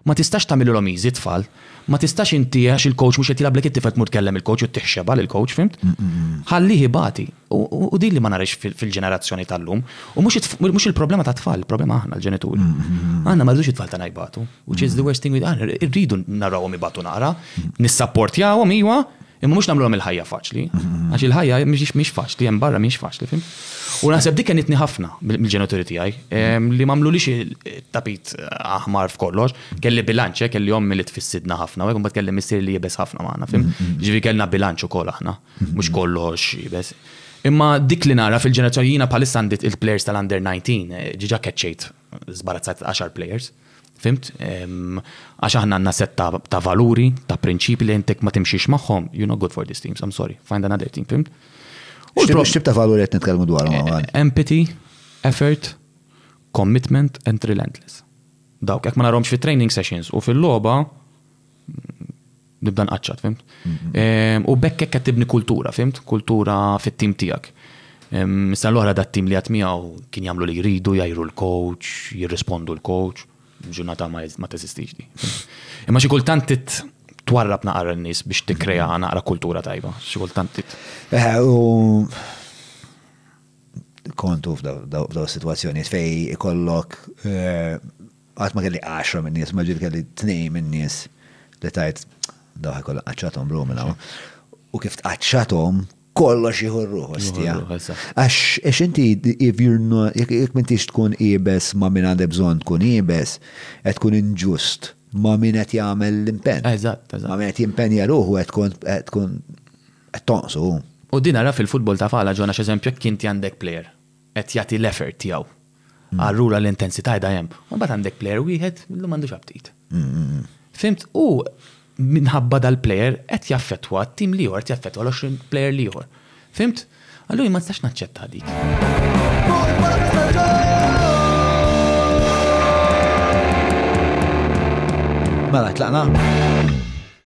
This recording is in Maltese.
Ma tistax tagħmililhom easy t-tfal. Ma tistax inti għax il-coach mhux qed jilgħablek it-tifel tmur tkellem il-coach u ttih xebgħa lill-coach, fhimt? Ħallih ibati. U din li ma narahx fil-ġenerazzjoni tal-lum. U mhux il-problema tat-tfal, il-problema aħna l-ġenituri. Aħna ma rridux it-tfal tagħna jbatu. Which is the worst thing we can. Irridu narawhom ibatu naqra, nissapportjahom, iwa, Imma mhux nagħmluhom il-ħajja faċli, għax il-ħajja mhix faċli, hemm barra mhix faċli, fim. U naħseb dik kenitni ħafna mill-ġenituri tiegħi ehm, li m'għamlulix tapit aħmar f'kollox, kelli bilanċ, eh, kelli ommi li tfissidna ħafna, u mbagħad kelli missier li jibes ħafna magħna, fim. Ġifi kellna bilanċ ukoll aħna, mhux kollox jibes. Imma dik li nara fil-ġenerazzjoni jiena bħalissa għandit il-players tal-under 19, eh, ġiġa keċċejt żbarazzat għaxar players. Fhimt? Għax aħna għandna set ta' valuri, ta' prinċipji li intek ma timxiex magħhom, you're not good for these teams, I'm sorry, find another team, fhimt? U x'tib ta' valuri qed nitkellmu dwarhom hawn? Empathy, effort, commitment and relentless. Dawk, jekk ma narhomx fit-training sessions u fil-logħba, Nibda nqaċċat, fimt? U bekk hekk qed tibni kultura, fimt? Kultura fit-tim tiegħek. Issa l-oħra dat tim li għad miegħu kien jagħmlu li jridu, jgħiru l-coach, jirrispondu l-coach, ġurnata ma teżistix di. Imma xi kultant twarrab naqra n-nies biex tikkrea naqra kultura tajba, xi kultant tit. Eh, u kontu f'daw situazzjonijiet fej ikollok eh, Qatt ma kelli għaxra minn nies, imma ġieli kelli tnejn minn nies li tgħid, daw ħa jkollha qaċċathom ruħu minn hawn. U kif tqaċċathom, kollox jieħu ruħu stija. Għax inti jekk m'intix tkun iebes ma' min għandek bżonn tkun iebes, qed tkun inġust ma' min qed jagħmel l-impenn. Eżatt, eżatt. Ma' min qed jimpenja ruħu qed tkun qed tkun qed tonqsu. U din ara fil-futbol ta' falha, John, għax eżempju jekk inti għandek plejer qed jagħti l-effort tiegħu. Allura l-intensità qiegħda hemm. U mbagħad għandek plejer wieħed li m'għandux aptit. Fimt? U minħabba dal-plejer qed jaffettwa t-tim li qed jaffettwa l-20 plejer li ieħor. Fimt? Allura ma tistax naċċetta dik. Mela, tlaqna?